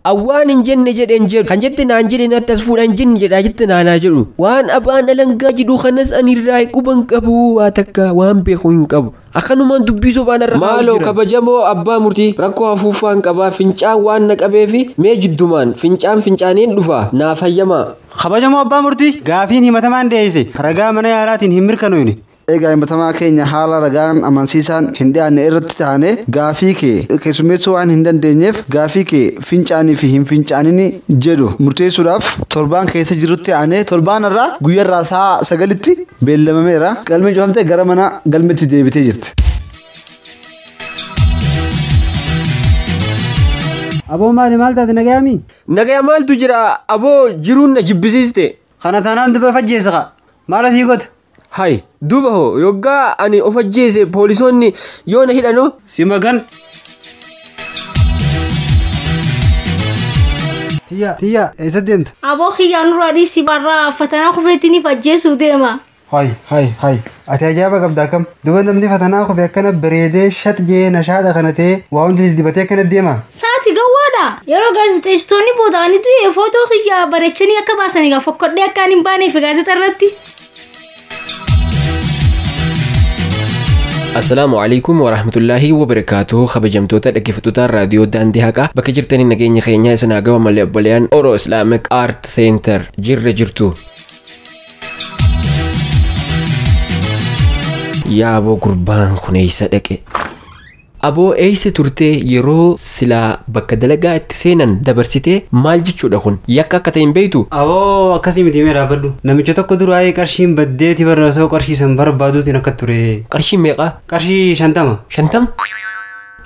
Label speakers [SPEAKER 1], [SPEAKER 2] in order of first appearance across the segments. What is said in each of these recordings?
[SPEAKER 1] Awwaan hin jenne jedhen jedhu kan jette naan jedhe natti as fuudhan jenne jedhaa jette naanaa jedhu waan abaan alangaa jedhu kanas ani irraa quban qabu waa takka waan beeku hin qabu akkanumaan dubbii sobaan irra maaloo kabajamoo abbaa murtii rakkoo hafuufaan qabaa fincaan waan na qabeefi mee jiddumaan fincaan fincaaniin dhufa naa fayyamaa kabajamoo abbaa
[SPEAKER 2] murtii gaafiin himatamaan dhiyeesse ragaa mana yaalaatiin hin mirkanoofne Egaa himatamaa
[SPEAKER 3] keenya haala ragaan amansiisaan hin dhiyaanne irratti taanee gaafii kee keessummeessuu waan hin dandeenyeef gaafii kee fincaanii fi hin fincaanini jedhu murteessuudhaaf torbaan keessa jirutti aanee torbaan irraa guyyarraa sa'a sagalitti beellamameera galmeen cufamtee gara mana galmetti deebitee jirti.
[SPEAKER 2] Aboo maali maal taate nagayaami? Nagaya maaltu jira
[SPEAKER 1] aboo jiruun na jibbisiiste. Kana taanaan dubee
[SPEAKER 2] fajjeessa kaa. Maal asii goota? Hay. Duuba
[SPEAKER 1] hoo yoggaa ani of ajjeese poolisoonni yoo na hidhanoo? Si magan.
[SPEAKER 2] Tiyya tiyya eessa deemta? Aboo kiyyaa nurraa
[SPEAKER 4] dhiisi barraa fatanaa kufeettiniif ajjeesuu deema. Hay hay
[SPEAKER 2] hay ati ajaa'iba qabda akkam duba namni fatanaa kufe akkana bareedee shat jee nashaadha kana ta'e waa hundi dibatee akkana deema. Saati gawwaadha.
[SPEAKER 4] Yeroo gaazexeessitoonni booda'anii du'e footoo kiyyaa bareechanii akka baasanii gaa fokkodhee akka ani hin baaneef gaazexaa irratti.
[SPEAKER 1] Assalaamu alaikum wa rahmatullaahi wa barakaatuhu kabajamtoota dhaggeeffattoota raadiyoo daandii haqaa bakka jirtanii nageenya keenyaa isin haa gahu malee obboleeyyan Oro Islamic Art Center jirra jirtu. Yaaboo gurbaan kun eessa dhaqe? Aboo eessa turtee yeroo silaa bakka dalagaa itti seenan dabarsitee maal jechuudha kun yakka akka ta'e hin beektu? Aboo akkasii miti
[SPEAKER 2] mee dhaabbadhu. Namicha tokko duraayii qarshiin baddeeti bar osoo qarshii san barbaaduutiin akka ture. Qarshiin meeqa?
[SPEAKER 1] Qarshii shantama.
[SPEAKER 2] Shantam?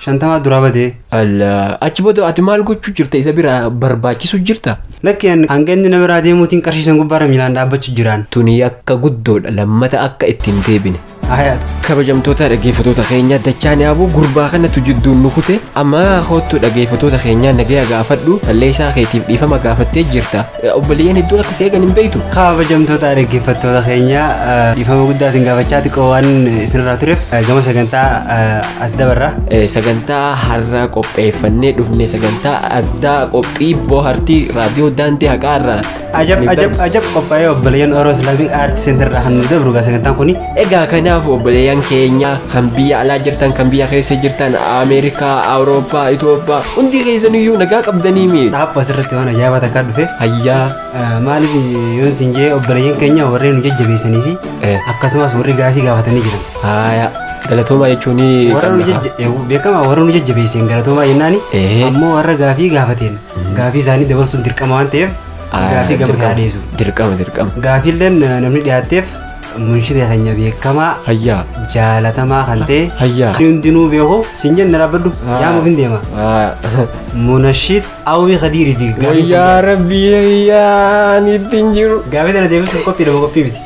[SPEAKER 2] Shantamaa duraa badee. Alla achi
[SPEAKER 1] booda ati maal gochuu jirta isa bira barbaachisu jirta? Lakki an hanga inni
[SPEAKER 2] na biraa deemuutiin qarshii san gubbaarra miilaan dhaabbachuu jiraan. Tuni yakka guddoodha
[SPEAKER 1] lammata akka itti hin deebine. kabajamtoota dhaggeeffatoota keenya dachaan yaabuu gurbaa kanatu jidduun nu kute amma hoottu dhaggeeffatoota keenya nagaya gaafadhu balleessaa keetiif dhiifama gaafattee jirta obboleeyyan hedduun akka seeqan hin beektu. kabajamtoota
[SPEAKER 2] dhaggeeffattoota keenya dhiifama guddaa isin gaafachaa xiqqoo waan isinirraa tureef gama sagantaa as dabarra. sagantaa
[SPEAKER 1] har'a qopheeffannee dhufne sagantaa addaa qophii bohaartii raadiyoo daandii haqaa irraa Ajab ajab ajab
[SPEAKER 2] qophaa'ee obboleeyyan Oro Islaamic Art Center irraa kan nu dabru gaa sagantaan kuni. Egaa kanaaf
[SPEAKER 1] obboleeyyan keenya kan biyya alaa jirtan kan biyya keessa jirtan Ameerikaa, Awurooppaa, Itoophiyaa hundi keessaniyyuu nagaa qabdanii mi? Dhaabba asirratti waan ajaa'ibaa
[SPEAKER 2] takkaa dhufe. Hayyaa.
[SPEAKER 1] Maaliif
[SPEAKER 2] yoon siin jee obboleeyyan keenya warreen nu jajjabeessanii fi akkasumas warri gaafii gaafatanii jiran. Haaya.
[SPEAKER 1] Galatoomaa jechuun Warra nu jajja-
[SPEAKER 2] beekamaa warra nu jajjabeesseen galatoomaa jennaani ammoo warra gaafii gaafateen Gaafii isaanii dabarsuun dirqama waan ta'eef gaafii gama kanaa dhiyeessu. Dirqama dirqama.
[SPEAKER 1] Gaafiilleen eh,
[SPEAKER 2] namni dhiyaatteef munshida keenya beekamaa Hayyaa.
[SPEAKER 1] jaalatamaa kan
[SPEAKER 2] ta'e Hayyaa. kan hundinuu
[SPEAKER 1] beeku
[SPEAKER 2] siin jenna dhaabbadhu yaamuuf hin deema. Munashiid Awwii Kadiirii fi gaafii kun Wayyaa rabbii
[SPEAKER 1] hayyaa ani ittiin jiru. gaafii tana deebisuuf qophii
[SPEAKER 2] lama qophii miti.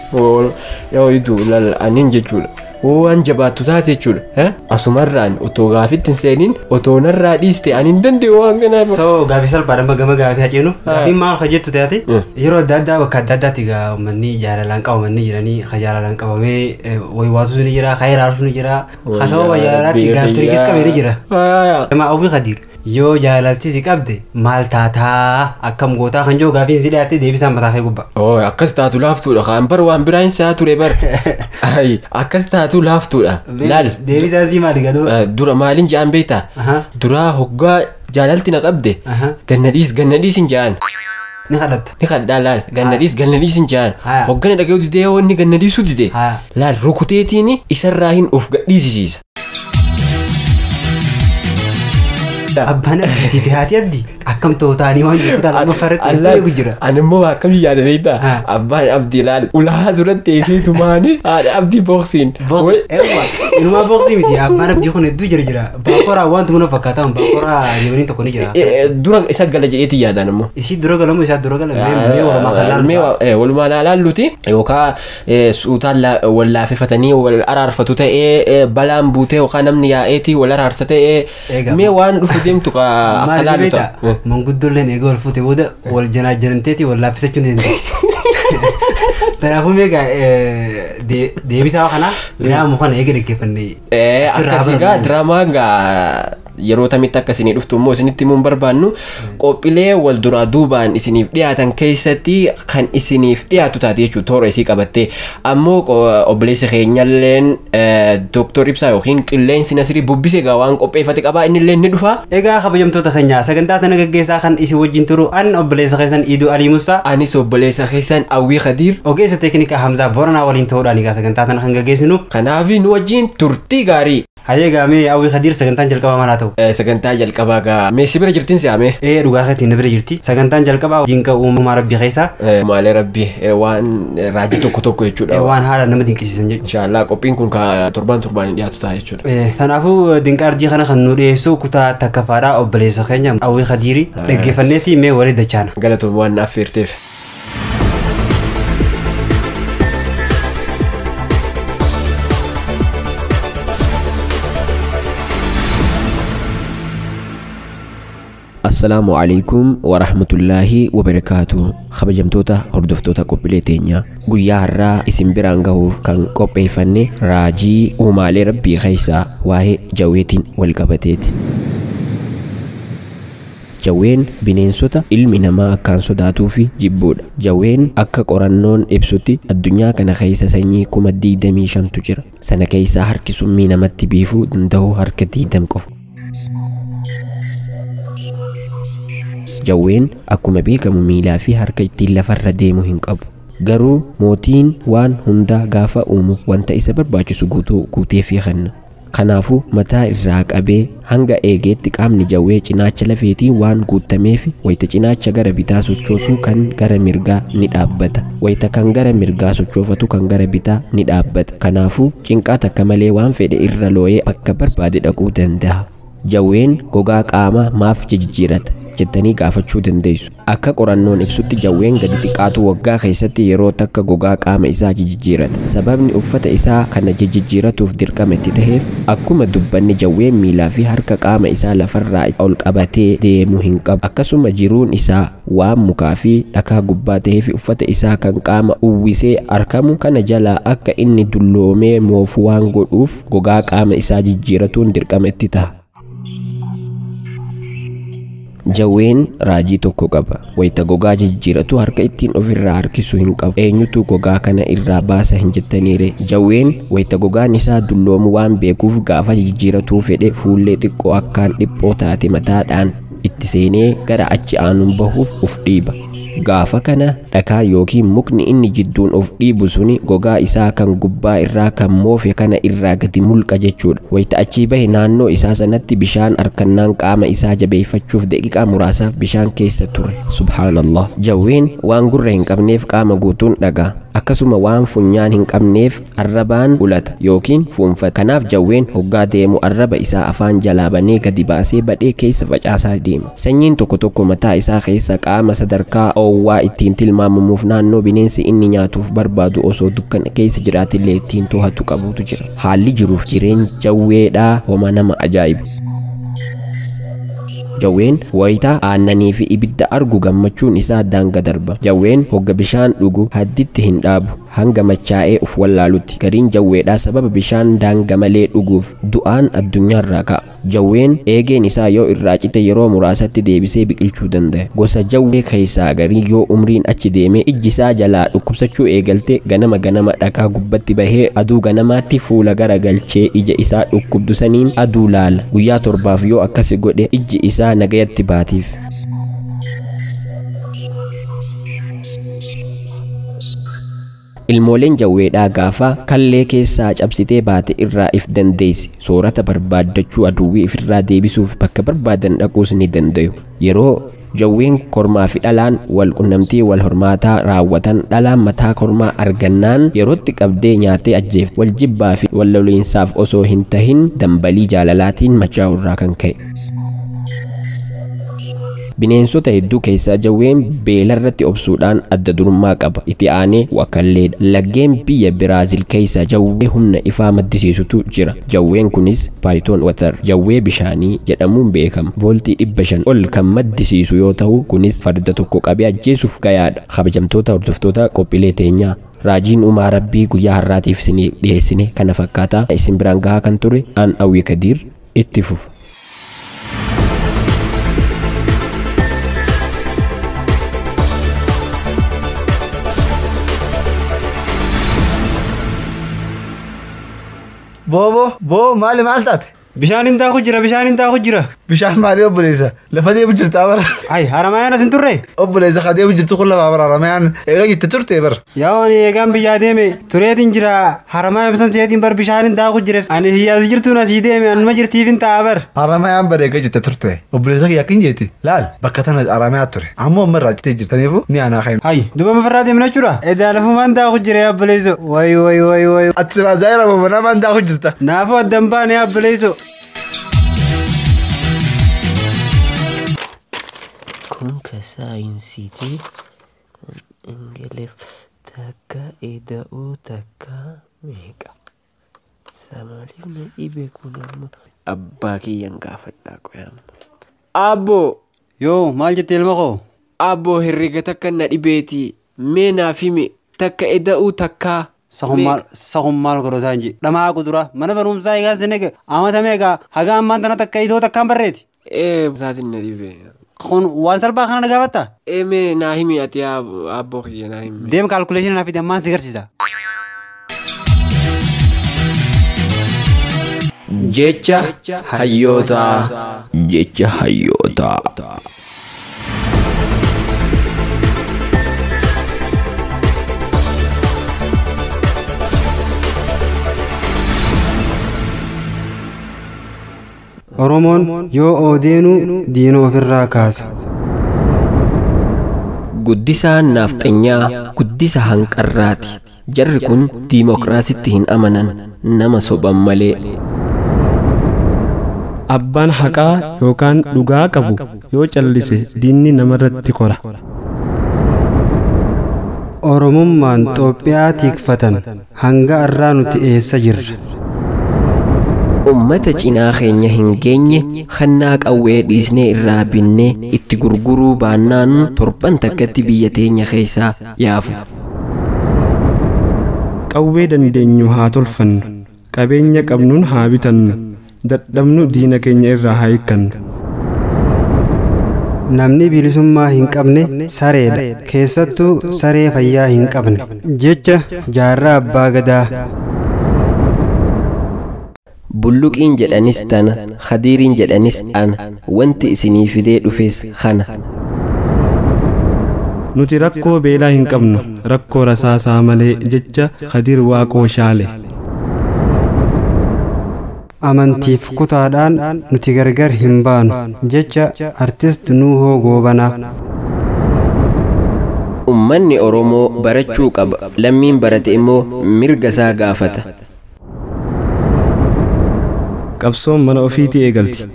[SPEAKER 2] Yoo idu
[SPEAKER 1] lal anin jechuudha. hoo waan jabaattu taate jechuudha eh? asumarraan otoo gaafitti hin seeniin otoo narraa dhiiste ani hin danda'u waan kanaa so gaafii salphaadha amma
[SPEAKER 2] gama gaafii haceenu Ah. gaafiin maal ka jettu taate Mm. yeroo adda addaa bakka adda addaatti gaa uummanni jaalalaan qabamanii jiranii ka jaalalaan qabamee eh, way waatuus ni jira ka hiraarsu ni jira ka sababa jaalalaatti gaastirikis qabee ni jira Aayaa. Jamaa Awwii Khadiir. Yoo jaalalti si qabde maal taataa akkam gootaa kan jiru gaafiin si dhiyaatte deebisaan mataa kee gubba. Oo akkas taatu laaftuudha
[SPEAKER 1] kaan bar waan biraa hin se'aa ture bar. Ayi akkas taatu laaftuudha. Laal. Deebisaan si maali
[SPEAKER 2] gaduu. Eh, Dura maaliin ja'an
[SPEAKER 1] beektaa? Aha. Duraa hoggaa jaalalti na qabde. Aha. Ganna dhiis ganna dhiis hin ja'an. Ni kadhatta.
[SPEAKER 2] Ni kadhaa laal ganna
[SPEAKER 1] dhiis ganna dhiis hin ja'an. Haya. Hoggana dhaga'uu didee yoo inni ganna dhiisuu dide. Haya. Laal rukuteetiini isarraa hin of gadhiisisiisa. Abbaan abdiiti fi haati abdi akkam ta'u ta'anii waan jiru ta'an amma farratti Allaa- eegu jira. Ani immoo akkam yaada beektaa? Ha. Abbaan abdii laal ulaa duratti eegee tumaanii haadha abdii booksiin. Boksi eewwa inumaa boksi miti abbaan abdii kun hedduu jira jira baakoraa wanti mana fakkaataan baakoraa yemanii tokko ni jira. Dura isa gala jedheetti yaadaan immoo. Isii dura galamu isaa dura galamu mee walumaa kan laalu. Mee wa- eh, walumaa laalaalluti yookaan eh, suutaan la- wal laafefatanii wal araarfatu ta'ee eh, balaan buutee yookaan namni yaa'eetii wal araarsa ta'ee Eegaa, mee waan dhufu deemtu ka- akka Maal laalu beektaa? ta'a. Eh. Manguddoolleen eegee wal fuute booda wal janaajanteeti wal laaffisachuu ni dandeessi. Kanaafuu meeqa deebisaa kanaa diraamu kana eega dhaggeeffannee. Eh, Achirraa akkasii gaa barannu. diraamaan gaa yeroo tamitti akka isinii dhuftu immoo isinitti himuu hin barbaannu qophiilee wal duraa duubaan isiniif dhiyaatan keessatti kan isiniif dhiyaatu taate jechuudha toora isii qabattee ammoo qo- obboleessi keenyalleen dooktor ibsaa yookiin qilleensi nasirii bubbise egaa waan qopheeffate qabaa innillee ni dhufa Egaa kabajamtoota keenya
[SPEAKER 2] sagantaa tana gaggeessaa kan isin wajjin turu an obboleessa keessan Iiduu Alii Musaa anis obboleessa
[SPEAKER 1] keessan awwii kadiir ogeessa teeknikaa Hamzaa
[SPEAKER 2] Booranaa waliin ta'uudhaan egaa sagantaa tana kan gaggeessinu kanaaf nu wajjin
[SPEAKER 1] turtii gaarii Hayee gaa mee Awwii
[SPEAKER 2] Kadiir sagantaan jalqabaa maal haa ta'u? Eh, Sagantaa jalqabaa gaa
[SPEAKER 1] mee si bira jirtin si amee. Ee dhugaa keetiin na bira
[SPEAKER 2] jirti. Sagantaan jalqabaa dinqa uumamaa rabbii keessaa Eh, Maalee rabbi
[SPEAKER 1] eh, waan eh, raajii tokko tokko ee, jechuudha. waan haala nama dinqisiisan
[SPEAKER 2] jechuudha. Inshaallah qophiin kun ka
[SPEAKER 1] torbaan torbaan hin dhiyaatu ta'a jechuudha. Ee, Kanaafuu dinqa arjii
[SPEAKER 2] kana kan nu dhiyeessu kutaa takkafaadhaa obboleessa keenya Awwii Kadiiri dhaggeeffanneetii mee warri dachaana. Galatoom waan naaf feerteef.
[SPEAKER 1] assalaamu alaikum warahmatullaahi wabarakaatu kabajamtoota hordoftoota qophiilee teenyaa guyyaa har'aa isin biraan gahuuf kan qopheeffanne raajii uumaalee rabbii keessaa waa'ee jaweetiin wal qabateeti Jawween bineensota ilmi namaa akkaan sodaatuufi jibbuudha. Jawween akka qorannoon ibsutti addunyaa kana keessa sanyii kuma 25tu jira. Sana keessaa harki summii namatti biifuu danda'u harka 20 qofa. Jawween akkuma beekamu miilaafi harka ittiin lafarra deemu hin qabu. Garuu mootiin waan hundaa gaafa uumu wanta isa barbaachisu guutuu guuteefii kenna. Kanaafuu, mataa irraa qabee hanga eegeetti qaamni jawwee cinaacha lafeetiin waan guuttameef wayita cinaacha gara bitaa sochoosu kan gara mirgaa ni dhaabbata. Wayita kan gara mirgaa sochoofatu kan gara bitaa ni dhaabbata. Kanaafuu, cinqaa takka malee waan fedhe irra looyee bakka barbaade dhaquu dandaha. Jawween gogaa qaamaa maaf jijijjiirata? jettanii gaafachuu dandeessu. Akka qorannoon ibsutti jawween gadi xiqqaatu waggaa keessatti yeroo takka gogaa qaama isaa jijijjiirata. Sababni uffata isaa kana jijijjiiratuuf dirqama itti taheef, akkuma dubbanne jawween miilaa fi harka qaama isaa lafarraa ol qabatee deemu hin qabu. Akkasuma jiruun isaa waan mukaa fi dhakaa gubbaa taheef uffata isaa kan qaama uwwisee arkamu kana jalaa akka inni dulloomee moofu waan godhuuf, gogaa qaama isaa jijjiiratuun dirqama itti taha. Jawween raajii tokko qaba. Wayita gogaa jijjiiratu harka ittiin ofirraa harkisu hin qabu. Eenyutu gogaa kana irraa baasa hin jettaniire. Jawween wayita gogaan isaa dulloomu waan beekuuf gaafa jijjiiratuu fedhe fuullee xiqqoo akkaan dhiphoo taate mataadhaan itti seenee gara achi aanuun bahuuf uf dhiiba. Gaafa kana Dhakaa ykn mukni inni jidduun of dhiibu suni gogaa isaa kan gubbaa irraa kan moofe kana irraa gadi mulqa jechuudha. Wayta achii bahe naannoo isaa sanatti bishaan arkannaan qaama isaa jabeeyfachuuf daqiqaa muraasaaf bishaan keeysa ture. Subhaanallah! Jawween waan gurra hin qabneef qaama guutuun dhaga'a. Akkasuma waan funyaan hin qabneef Arrabaan ulata yookiin fuunfata. Kanaaf jawween hoggaa deemu arraba isaa afaan jalaa banee gadi baasee badhee keessa facaasaa deema. Sanyiin tokko tokko mataa isaa keessa qaama sadarkaa oowwaa ittiin tilmaamamuuf naannoo bineensi inni nyaatuuf barbaadu osoo dukkana keessa jiraatillee ittiin tohatu qabutu jira. Haalli jiruuf jireenyi jawweedhaa homa nama ajaa'ibu. Jawween wayita aannanii fi ibidda argu gammachuun isaa daanga darba. Jawween hogga bishaan dhugu hadditti hin dhaabu. Hanga machaa'ee uf wallaalutti. Gariin jawweedhaa sababa bishaan daanga malee dhuguuf du'aan addunyaarraa ka'a. Jawween eegeen isaa yoo irraa cite yeroo muraasatti deebisee biqilchuu dandaya. Gosa jawwee keessaa garii yoo umriin achi deemee ijji isaa jalaa dhukkubsachuu eegalte ganama ganama dhakaa gubbatti bahee aduu ganamaatti fuula gara galchee ija isaa dhukkubdu saniin aduu laala. Guyyaa torbaaf yoo akkasi godhe ijji isaa nagayatti baatiif. Ilmooleen jawweedhaa gaafa kallee keessaa cabsitee baate irraa if dandeessi. Soorata barbaaddachuu aduwwii ifirraa deebisuuf bakka barbaadan dhaquus ni dandayu. Yeroo jawween kormaa fi dhalaan wal qunnamtii wal hormaataa raawwatan dhalaan mataa kormaa argannaan yerootti qabdee nyaatee ajjeefti. Wal jibbaa fi wal loliinsaaf osoo hin tahin dambalii jaalalaatiin machaa'uu irraa kan ka'e. Bineensota hedduu keessaa jawween beelarratti obsuudhaan adda durummaa qaba. Itti aanee wakalleedha. Laggeen biyya Biraazil keessaa jawwee humna ifaa maddisiisutu jira. Jawween kunis Python Water, jawwee bishaanii, jedhamuun beekama. Vooltii 500 ol kan maddisiisu yoo tahu kunis farda tokko qabee ajjeesuuf gayaadha. Kabajamtoota hordoftoota qophiilee teenyaa! Raajiin uumaa Rabbii guyyaa har'aatiif isiniif dhiheessine kana fakkaata. Isin biraan gahaa kan ture an Awwii Kadiir. itti fufa.
[SPEAKER 3] Boo boo boo maali maal taate? Bishaan hin taaku jira
[SPEAKER 2] bishaan hin taaku jira. Bishaan maalii
[SPEAKER 3] obboleessa? Lafa deemu jirta bar. Ay, haramayaan asin
[SPEAKER 2] turre? Obboleessa haa deemu jirtu
[SPEAKER 3] kun lafa bar haramayaan eega jette turte bar. Yaa ani eegaan biyyaa
[SPEAKER 2] deeme tureetiin jira haramaa ibsan seetiin bar bishaanin daaku jira. Ani siyaasi jirtuun asii deeme anuma jirtiifin ta'a bar. Haramayaan bar eega jette
[SPEAKER 3] turte. Obboleessa kiyya akkin jeeti. Laal bakka tana haramayaa ture. Ammoo amma irraa jettee jirtaniifu ni aanaa ka'in. Ay, duba mafarraa deemna
[SPEAKER 2] jechuudha. Edaa lafumaan daaku jira yaa obboleesso. Way way way way. Ati siraa zaayira
[SPEAKER 3] bobanamaan daaku jirta. Naafuu addan baane
[SPEAKER 2] yaa obboleesso.
[SPEAKER 1] Kun ka saayinsiiti. Ingiliff takka eda'uu takka meeqa. Samaaliif na dhibe kun amma. Abbaa kiyyan gaafadhaa qoy amma. Abboo! Yoo
[SPEAKER 2] maal jette ilma koo? Abboo herrega
[SPEAKER 1] takka na dhibeeti mee naaf himi takka eda'uu takkaa. Sakun maal sakun
[SPEAKER 2] maal godha isaan jee dhamaa qudura mana barumsaa egaa senega amata meeqa haga ammaan tana takka itoo takkaan barreeti. Ee isaatiin na
[SPEAKER 1] dhibe. Kun waan
[SPEAKER 2] salphaa kana na gaafatta? Ee mee naa himi
[SPEAKER 1] ati abboo kiyya naa himi. Deem kaalkuleeshinii naaf fidi ammaan
[SPEAKER 2] si garsiisa.
[SPEAKER 1] Jecha hayyootaa. Jecha hayyootaa.
[SPEAKER 2] Oromoon yoo oodeenuu diina ofirraa kaasa.
[SPEAKER 1] Guddisaa naafxanyaa guddisa hanqarraati. Jarri kun diimokiraasitti hin amanan nama soban malee.
[SPEAKER 5] Abbaan haqaa yookaan dhugaa qabu yoo callise diinni namarratti kora.
[SPEAKER 2] Oromummaan Xoophiyaa tiikfatan hanga arraa nuti eessa jirra? Ummata
[SPEAKER 1] cinaa keenya hin geenye kannaa qawwee dhiisnee irraa binnee itti gurguruu baannaanuu torban takkatti biyya teenya keessaa yaafu.
[SPEAKER 5] Qawwee dandeenyu haa tolfannu. Qabeenya qabnuun haa bitannu. Dadhabnu diina keenya irraa haa hiikkannu.
[SPEAKER 2] Namni bilisummaa hin qabne sareedha. Keessattuu saree fayyaa hin qabne. Jecha Jaarraa Abbaa Gadaa.
[SPEAKER 1] Bulluqiin jedhanis tana, Khadiiriin jedhanis ana, wanti isinii fidee dhufes kana.
[SPEAKER 5] Nuti rakkoo beelaa hin qabnu, rakkoo rasaasaa malee jecha Khadiir Waaqoo Shaale.
[SPEAKER 2] Amantiif kutaadhaan nuti gargar hin baanu jecha Artist Nuuhoo Goobanaa.
[SPEAKER 1] Ummanni Oromoo barachuu qaba, lammiin barate immoo mirga isaa gaafata.
[SPEAKER 5] Qabsoon mana ofiitii eegalti.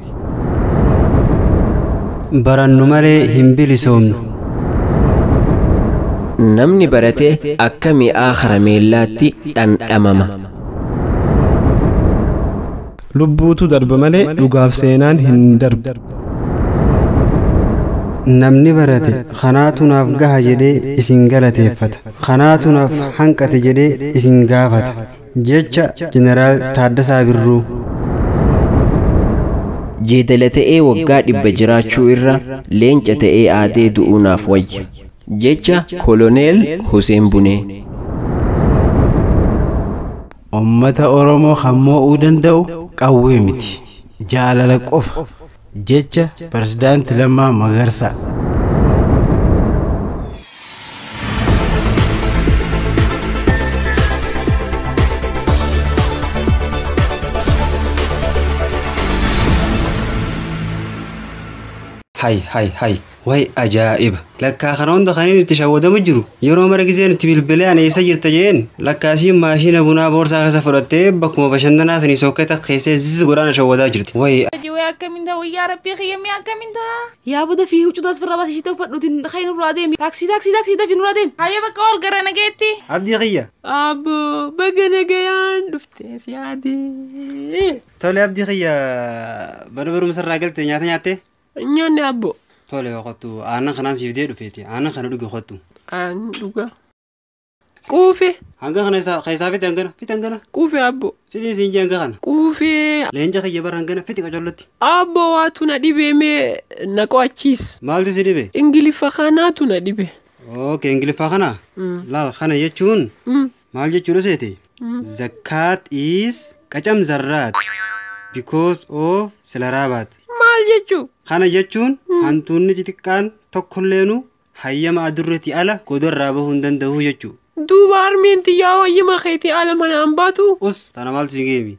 [SPEAKER 2] Barannu malee hin bilisoomnu.
[SPEAKER 1] Namni barate akka mi'aa karameellaatti dhandhamama.
[SPEAKER 5] Lubbuutu darba malee dhugaaf seenaan hin darbu.
[SPEAKER 2] Namni barate kanaatu naaf gaha jedhee isin galateeffata. Kanaatu naaf hanqate jedhee isin gaafata. Jecha Jeneraal Taaddasaa Birruu.
[SPEAKER 1] Jeedala ta'ee waggaa dhibba jiraachuu irra leenca ta'ee aadee du'uu naaf wayya. Jecha Koloneel Huseen Bunee.
[SPEAKER 6] Ummata Oromoo kan moo'uu danda'u qawwee miti, jaalala qofa. Jecha Pirezidaanti Lammaa Magarsaa.
[SPEAKER 2] Hay hay hay. Way ajaa'iba! Lakkaa kana hunda kanin itti shawwadamu jiru yeroo mara gizeen itti bilbilee ani eessa jirta jeen lakkaa isiin maashiina bunaa boorsaa keessa fudhattee bakkuma bashannanaa sanii sookkee takka keessee zizz godhaa na shawwadaa jirti. Way Hojii wayii akkamiin ta'a wayyaa
[SPEAKER 4] rabbii kiyya mee akkamiin ta'a. Yaa boda fi
[SPEAKER 7] huccuu taas firra baasi ishii ta'u fadhu tin ka'ee nurraa deemi taaksii taaksii taaksii dafi nurraa deemi. Hayyee bakka ol gara
[SPEAKER 4] nageetti. Abdii kiyya.
[SPEAKER 2] Abbo
[SPEAKER 1] baga nagayaan dhufte si yaadee. Tole abdii
[SPEAKER 2] kiyya mana barumsa irraa galte nyaata nyaattee? Hin nyaanne abbo.
[SPEAKER 1] Tole kottu
[SPEAKER 2] aannan kanaan siif dee dhufeeti. Aannan kana dhugi kottu. Aan dhuga.
[SPEAKER 1] Quufe. Hanga kana
[SPEAKER 2] isaa keessaa fite hangana fite hangana. Quufe abbo.
[SPEAKER 1] Fite siin jee hanga kana.
[SPEAKER 2] Quufe. Leenca
[SPEAKER 1] kiyya bara hangana
[SPEAKER 2] fite qacollotti. Abbo waatu na
[SPEAKER 1] dhibee mee na qo'achiis. Maaltu si dhibe?
[SPEAKER 2] Ingiliffa kanaatu
[SPEAKER 1] na dhibe. Okay ingiliffaa
[SPEAKER 2] kana. Mm. Laal kana jechuun Mm. Maal jechuudha seete? Zakkaat is qacam zarraat because of silaraabaat. Maal jechuu?
[SPEAKER 7] Kana jechuun
[SPEAKER 2] hantuunni xixiqqaan tokkolleenu hayyama adurreetii ala godarraa bahuu hin danda'u jechuu. Duuba harmeen
[SPEAKER 7] tiyyaa hayyama keetii ala manaan baatu? Us tana maaltu si geemi?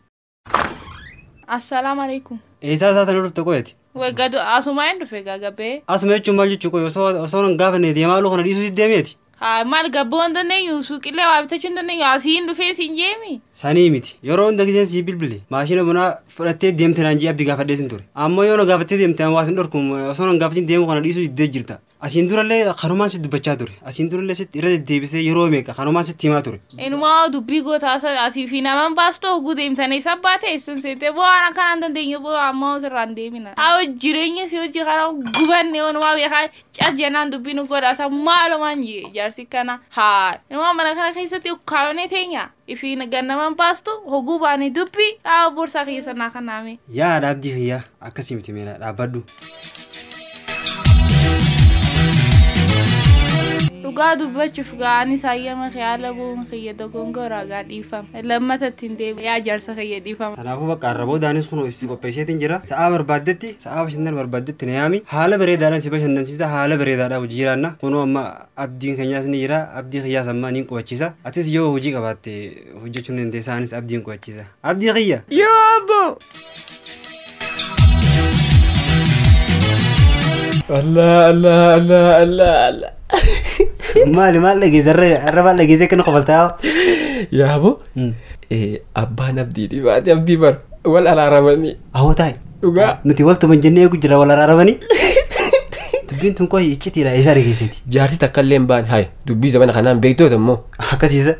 [SPEAKER 4] Assalaamu alaikum. Eessaa isaa sana dhufte
[SPEAKER 2] qoyati? Wagadu asumaa
[SPEAKER 4] hin dhufe gagabee. Asuma jechuun maal jechuu qoy
[SPEAKER 2] osoo osoo hin gaafanne deemaa luu kana dhiisuu si deemeeti? Haa maal gabboo hin
[SPEAKER 4] dandeenyu suuqillee waa bitachuu hin dandeenyu asii hin dhufee siin jeemi. Sanii miti. Yeroo
[SPEAKER 2] hunda giseen sii bilbile maashina bunaa fudhattee deemte naan jee abdi gaafadhee sin ture. Ammoo yoo na gaafattee deemte an waa sin dhorku osoo hin gaafatin deemuu kana dhiisuu diddee jirta. Asiin durallee kanumaan sitti dubbachaa ture. Asiin durallee sitti irra deddeebisee yeroo meeqa kanumaan sitti himaa ture. Inumaa dubbii gootaa
[SPEAKER 4] sana asii fi naman baastoo oguu deemtanii isa baatee isin seentee boo waan akkanaa hin dandeenye boo ammaa osirraa hin deemina. Haa jireenya si hojii kana gubanne onumaa beekaa cas jennaan dubbii nu godhaasa maalumaan jee jaarsi kana haa inumaa mana kana keessatti ukkaamnee teenyaa. Isiin gannaman baastu hoguu baanii dubbi dhaaba borsaa kiyya san naa kannaa mee. Yaa dhaabdii kiyya
[SPEAKER 2] akkasii miti meela dhaabbadhu.
[SPEAKER 4] Dhugaa dubbachuuf gaa anis hayyama kee haala bu'uun kiyya dogongora gaa dhiifama. Lammata ittiin deebi'e yaa jaarsa kiyya dhiifama. Kanaafuu bakka har'a boodaanis
[SPEAKER 2] kun hojii qopheesseetiin jira. Sa'aa barbaaddetti, sa'aa bashannana barbaaddetti na yaami. Haala bareedaadhaan si bashannansiisa, haala bareedaadhaan hojii jiraanna. Kunoo amma Abdiin keenyaas ni jira. Abdii kiyyaas ammaa niin qubachiisa. Atis yoo hojii qabaatte hojjechuu ni dandeessa. Anis abdiin qubachiisa. Abdii kiyya! Yoo abbo!
[SPEAKER 1] Allah Allah Allah Allah Allah.
[SPEAKER 2] Maali maal dhageessa? Har'a maal dhageessa akkana qofaltaa? Yaabo
[SPEAKER 1] abbaan abdii dhibaate abdii bar wal araaramanii. Awoo taa'e.
[SPEAKER 2] Dhugaa. Nuti wal tuman
[SPEAKER 1] jennee eegu
[SPEAKER 2] jira wal araaramanii. Dubbiin tun qohi iccitiidha eessa argeessiti. Jaartii takka illee hin baane
[SPEAKER 1] haye dubbii zamana kanaan beektoota immoo Akkasiisa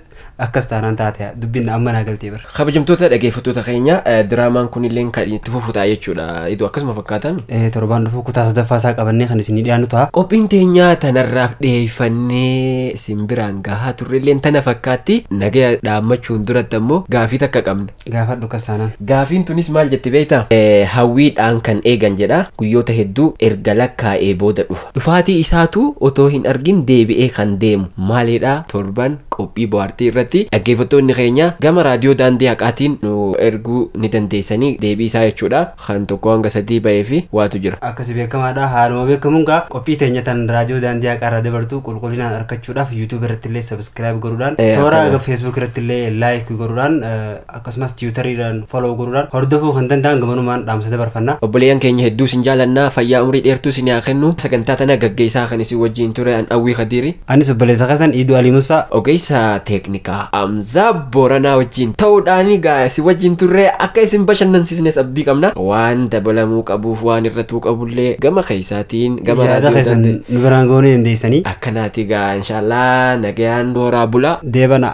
[SPEAKER 2] akkas taanaan taate dubbiin amma naa galtee bara. kabajamtoota dhaggeeffattoota
[SPEAKER 1] keenya eh, diraamaan kun illee kan itti fufu ta'a jechuudha idoo akkasuma fakkaatan. Eh, Torbaan dhufuu kutaa
[SPEAKER 2] sadaffaa isaa qabannee kan isinii dhiyaannu ta'a. Qophiin teenyaa
[SPEAKER 1] tanarraaf dhiyeeffannee isin biraan gahaa turre illee tana fakkaatti nagaya dhaammachuun duratti ammoo gaafii takka qabna. Gaafadhu akkas taanaan.
[SPEAKER 2] Gaafiin tunis maal jetti
[SPEAKER 1] beektaa? Hawwii dhaan kan eegan jedha. Guyyoota hedduu erga lakkaa'ee booda dhufa. Dhufaatii isaatu otoo hin argin deebi'ee kan deemu maalidha? Torban qophii bohaartii irratti dhaggeeffattoonni keenya gama raadiyoo daandii haqaatiin nu erguu ni dandeessanii deebii isaa jechuudha. kan 1-3 ba'ee fi waatu jira. Akkasi beekamaadha. Haaluma
[SPEAKER 2] beekamuun gaa qophii teenya tan raadiyoo daandii haqaa irraa dabartu qulqullinaan arkachuudhaaf YouTube irratti illee subscribe godhuudhaan Eh, toora akkana. Facebook irratti illee like godhuudhaan eh, akkasumas Twitter irraan follow godhuudhaan hordofuu kan danda'an gamanumaan dhaamsa dabarfanna. Obboleeyyan keenya hedduu sin
[SPEAKER 1] jaalannaa fayyaa umrii dheertuu sin haa kennu sagantaa tana gaggeessaa kan isin wajjin ture an Awwii Kadiiri. Anis obboleessa keessan
[SPEAKER 2] Iiduu Alii Musaa. Ogeessa teeknikaa
[SPEAKER 1] Hamzaa Booranaa wajjin ta'uudhaan egaa isin wajjin turre akka isin bashannansiisnes abdii qabna. Waan dabalamuu qabuuf waan irratuu qabullee gama keessaatiin gama Yaada raadiyoo keessan isaatiin nu biraan goonee dandeessanii.
[SPEAKER 2] akkanaatii
[SPEAKER 1] egaa inshaallah nagayaan horaa bulaa. Deebanaa.